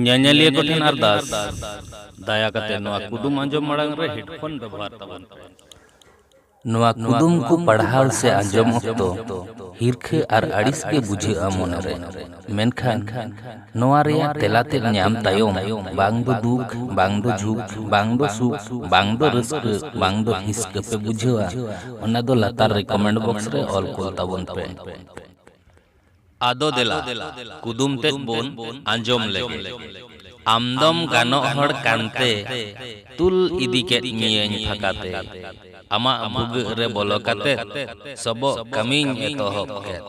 ᱧᱮᱧᱮᱞᱤᱭᱟᱹ ᱠᱚ ᱴᱷᱮᱱ ᱟᱨᱫᱟᱥ ᱫᱟᱭᱟ ᱠᱟᱛᱮ ᱱᱚᱣᱟ ᱠᱩᱫᱩᱢ ᱟᱸᱡᱚᱢ ᱢᱟᱲᱟᱝ ᱨᱮ ᱦᱮᱰᱯᱷᱳᱱ ᱵᱮᱵᱚᱦᱟᱨ ᱛᱟᱵᱚᱱ ᱯᱮ ᱱᱚᱣᱟ ᱠᱩᱫᱩᱢ ᱠᱚ ᱯᱟᱲᱦᱟᱣ ᱥᱮ ᱟᱸᱡᱚᱢ ᱚᱠᱛᱚ ᱦᱤᱨᱠᱷᱟᱹ ᱟᱨ ᱟᱹᱲᱤᱥ ᱜᱮ ᱵᱩᱡᱷᱟᱹᱜᱼᱟ ᱢᱚᱱᱮᱨᱮ ᱢᱮᱱᱠᱷᱟᱱ ᱱᱚᱣᱟ ᱨᱮᱭᱟᱜ ᱛᱮᱞᱟ ᱛᱮᱫ ᱧᱟᱢ ᱛᱟᱭᱚᱢ ᱵᱟᱝ ᱫᱚ ᱫᱩᱠ ᱵᱟᱝ ᱫᱚ ᱡᱷᱩᱠ ᱵᱟᱝ ᱫᱚ ᱥᱩᱠ ᱵᱟᱝ ᱫᱚ ᱨᱟᱹᱥᱠᱟᱹ ᱵᱟᱝ ᱫᱚ ᱦᱤᱥᱠᱟᱹ ᱯᱮ ᱵᱩᱡᱷᱟᱹᱣᱟ ᱚᱱᱟ ᱫᱚ ᱞᱟᱛᱟᱨ ᱨᱮ ᱠᱚᱢᱮᱱᱴ ᱵᱚᱠᱥ ᱨᱮ ᱚᱞ ᱠᱩᱞ ᱛᱟᱵᱚᱱ ᱯᱮ ᱟᱫᱚ ᱫᱮᱞᱟ ᱠᱩᱫᱩᱢ ᱛᱮᱫ ᱵᱚᱱ ᱟᱸᱡᱚᱢ ᱞᱮᱜᱮ᱾ ᱟᱢ ᱫᱚᱢ ᱜᱟᱱᱚᱜ ᱦᱚᱲ ᱠᱟᱱᱛᱮ ᱛᱩᱞ ᱤᱫᱤ ᱠᱮᱫ ᱢᱤᱭᱟᱹᱧ ᱯᱷᱟᱸᱠᱟ ᱛᱮ᱾ ᱟᱢᱟᱜ ᱵᱷᱩᱜᱟᱹᱜ ᱨᱮ ᱵᱚᱞᱚ ᱠᱟᱛᱮ ᱥᱚᱵᱚᱜ ᱠᱟᱹᱢᱤᱧ ᱮᱛᱚᱦᱚᱵ ᱠᱮᱫ᱾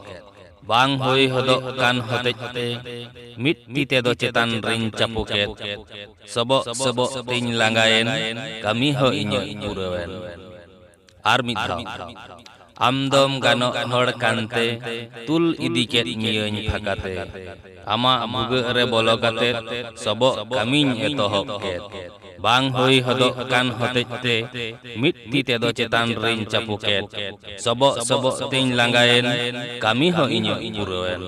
ᱵᱟᱝ ᱦᱩᱭ ᱦᱚᱫᱚᱜ ᱠᱟᱱ ᱦᱚᱛᱮᱡ ᱛᱮ ᱢᱤᱫ ᱛᱤ ᱛᱮᱫᱚ ᱪᱮᱛᱟᱱ ᱨᱮᱧ ᱪᱟᱯᱚ ᱠᱮᱫ᱾ ᱥᱚᱵᱚᱜ ᱥᱚᱵᱚᱜ ᱛᱮᱧ ᱞᱟᱸᱜᱟᱭᱮᱱ ᱠᱟᱹᱢᱤ ᱦᱚᱸ ᱤᱧᱟᱹᱜ ᱯᱩᱨᱟᱹᱣᱮᱱ᱾ ᱟᱨ ᱢᱤᱫ ᱫᱷᱟᱣ ᱟᱢ ᱫᱚᱢ ᱜᱟᱱᱚᱜ ᱦᱚᱲ ᱠᱟᱱᱛᱮ ᱛᱩᱞ ᱤᱫᱤ ᱠᱮᱫ ᱢᱤᱭᱟᱹᱧ ᱯᱷᱟᱸᱠᱟᱛᱮ ᱟᱢᱟᱜ ᱵᱷᱩᱜᱟᱹᱜ ᱨᱮ ᱵᱚᱞᱚ ᱠᱟᱛᱮ ᱥᱚᱵᱚᱜ ᱠᱟᱹᱢᱤᱧ ᱮᱛᱚᱦᱚᱵ ᱠᱮᱫ ᱵᱟᱝ ᱦᱩᱭ ᱦᱚᱫᱚᱜ ᱠᱟᱱ ᱦᱚᱛᱮᱡ ᱛᱮ ᱢᱤᱫ ᱛᱤ ᱛᱮᱫᱚ ᱪᱮᱛᱟᱱ ᱨᱤᱧ ᱪᱟᱯᱩ ᱠᱮᱫ ᱥᱚᱵᱚᱜ ᱥᱚᱵᱚᱜ ᱛᱮᱧ ᱞᱟᱸᱜᱟᱭᱮᱱ ᱠᱟᱹᱢᱤ ᱦᱚᱸ ᱤᱧᱟᱹᱜ ᱯᱩᱨᱟᱹᱣᱮᱱ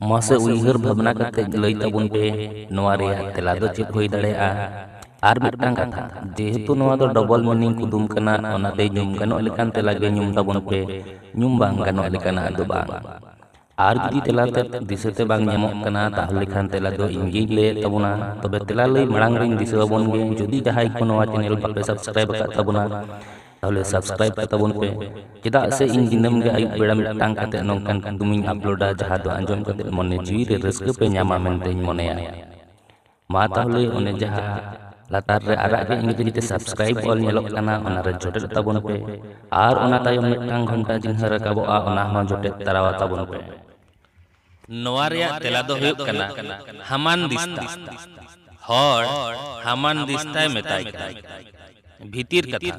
ᱢᱟᱥᱮ ᱩᱭᱦᱟᱹᱨ ᱵᱷᱟᱵᱽᱱᱟ ᱠᱟᱛᱮ ᱞᱟᱹᱭ ᱛᱟᱵᱚᱱ ᱯᱮ ᱱᱚᱣᱟ ᱨᱮᱭᱟᱜ ᱛᱮᱞᱟ ᱫᱚ ᱪᱮᱫ ᱦᱩᱭ ᱫᱟᱲᱮᱭᱟᱜᱼᱟ ᱟᱨ ᱢᱤᱫᱴᱟᱝ ᱠᱟᱛᱷᱟ ᱡᱮᱦᱮᱛᱩ ᱱᱚᱣᱟ ᱫᱚ ᱰᱚᱵᱚᱞ ᱢᱤᱱᱤᱝ ᱠᱩᱫᱩᱢ ᱠᱟᱱᱟ ᱚᱱᱟᱛᱮ ᱧᱩᱢ ᱜᱟᱱᱚᱜ ᱞᱮᱠᱟᱱ ᱛᱮᱞᱟ ᱜᱮ ᱧᱩᱢ ᱛᱟᱵᱚᱱ ᱯᱮ ᱧᱩᱢ ᱵᱟᱝ ᱜᱟᱱᱚᱜ ᱞᱮᱠᱟᱱᱟᱜ ᱫᱚ ᱵᱟᱝ ᱟᱨ ᱡᱩᱫᱤ ᱛᱮᱞᱟ ᱛᱮ ᱫᱤᱥᱟᱹᱛᱮ ᱵᱟᱝ ᱧᱟᱢᱚᱜ ᱠᱟᱱᱟ ᱛᱟᱦᱚᱞᱮ ᱠᱷᱟᱱ ᱛᱮᱞᱟ ᱫᱚ ᱤᱧ ᱜᱤᱧ ᱞᱟᱹᱭᱮᱫ ᱛᱟᱵᱚᱱᱟ ᱛᱚᱵᱮ ᱛᱮᱞᱟ ᱞᱟᱹᱭ ᱢᱟᱲᱟᱝ ᱨᱤᱧ ᱫᱤᱥᱟᱹ ᱟᱵᱚᱱ ᱜᱮ ᱡᱩᱫᱤ ᱡᱟᱦᱟᱸᱭ ᱠᱚ ᱱᱚᱣᱟ ᱪᱮᱱᱮᱞ ᱵᱟᱯᱮ ᱥᱟᱵᱥᱠᱨᱟᱭᱤᱵ ᱟᱠᱟᱫ ᱛᱟᱵᱚᱱᱟ ᱛᱟᱦᱚᱞᱮ ᱥᱟᱵᱥᱠᱨᱟᱭᱤᱵ ᱠᱟᱛᱟ ᱵᱚᱱ ᱯᱮ ᱪᱮᱫᱟᱜ ᱥᱮ ᱤᱧ ᱫᱤᱱᱟᱹᱢ ᱜᱮ ᱟᱹᱭᱩᱵ ᱵᱮᱲᱟ ᱢᱤᱫᱴᱟᱝ ᱠᱟᱛᱮ ᱱᱚᱝᱠᱟᱱ ᱠᱩᱫᱩᱢᱤᱧ ᱟᱯᱞᱳᱰᱟ ᱡᱟᱦᱟᱸ ᱫᱚ ᱟᱸᱡᱚᱢ ᱠᱟᱛᱮ ᱢᱚᱱᱮ ᱡᱤᱣᱤ ᱨᱮ ᱨᱟᱹᱥᱠᱟᱹ ᱯᱮ ᱧᱟᱢᱟ ᱢᱮᱱᱛᱮᱧ ᱢᱚᱱᱮᱭᱟ ᱢᱟ ᱛᱟᱦᱚᱞᱮ ᱚᱱᱮ ᱡᱟᱦᱟᱸ ᱞᱟᱛᱟᱨ ᱨᱮ ᱟᱨᱟᱜ ᱜᱮ ᱤᱝᱨᱮᱡᱤ ᱛᱮ ᱥᱟᱵᱥᱠᱨᱟᱭᱤᱵ ᱚᱞ ᱧᱮᱞᱚᱜ ᱠᱟᱱᱟ ᱚᱱᱟ ᱨᱮ ᱡᱚᱴᱮᱫ ᱛᱟᱵᱚᱱ ᱯᱮ ᱟᱨ ᱚᱱᱟ ᱛᱟᱭᱚᱢ ᱢᱤᱫᱴᱟᱝ ᱜᱷᱚᱱᱴᱟ ᱪᱤᱱᱦᱟᱹ ᱨᱟᱠᱟᱵᱚᱜᱼᱟ ᱚᱱᱟ ᱦᱚᱸ ᱡᱚᱴᱮᱫ ᱛᱟᱨᱟᱣᱟ ᱛᱟᱵᱚᱱ ᱯᱮ ᱱᱚᱣᱟ ᱨᱮᱭᱟᱜ ᱛᱮᱞᱟ ᱫᱚ ᱦᱩᱭᱩᱜ ᱠᱟᱱᱟ ᱦᱟᱢᱟᱱᱫᱤᱥᱛᱟ᱾ ᱦᱚᱲ ᱦᱟᱢᱟᱱᱫᱤᱥᱛᱟᱭ ᱢᱮᱛᱟᱭ ᱠᱟᱱᱟ᱾ ᱵᱷᱤᱛᱤᱨ ᱠᱟᱛᱷᱟ,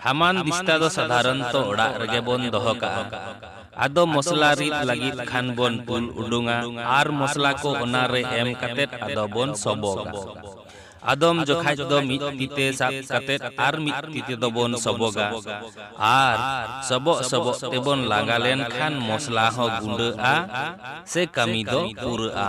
ᱦᱟᱢᱟᱱᱫᱤᱥᱛᱟ ᱫᱚ ᱥᱟᱫᱷᱟᱨᱚᱱᱛᱚ ᱚᱲᱟᱜ ᱨᱮᱜᱮ ᱵᱚᱱ ᱫᱚᱦᱚ ᱠᱟᱜᱼᱟ᱾ ᱟᱫᱚ ᱢᱚᱥᱞᱟ ᱨᱤᱫ ᱞᱟᱹᱜᱤᱫ ᱠᱷᱟᱱ ᱵᱚᱱ ᱛᱩᱞ ᱩᱰᱩᱝᱼᱟ ᱟᱨ ᱢᱚᱥᱞᱟ ᱠᱚ ᱚᱱᱟ ᱨᱮ ᱮᱢ ᱠᱟᱛᱮ ᱟᱫᱚ ᱵᱚᱱ ᱥᱚᱵᱚᱜᱟ᱾ ᱟᱫᱚᱢ ᱡᱚᱠᱷᱟᱡ ᱫᱚ ᱢᱤᱫ ᱛᱤᱛᱮ ᱥᱟᱵ ᱠᱟᱛᱮ ᱟᱨ ᱢᱤᱫ ᱛᱤᱛᱮ ᱫᱚ ᱵᱚᱱ ᱥᱚᱵᱚᱜᱟ ᱟᱨ ᱥᱚᱵᱚᱜ ᱥᱚᱵᱚᱜ ᱛᱮ ᱵᱚᱱ ᱞᱟᱸᱜᱟ ᱞᱮᱱ ᱠᱷᱟᱱ ᱢᱚᱥᱞᱟ ᱦᱚᱸ ᱜᱩᱸᱰᱟᱹᱜᱼᱟ ᱥᱮ ᱠᱟᱹᱢᱤ ᱫᱚ ᱯᱩᱨᱟᱹᱜᱼᱟ᱾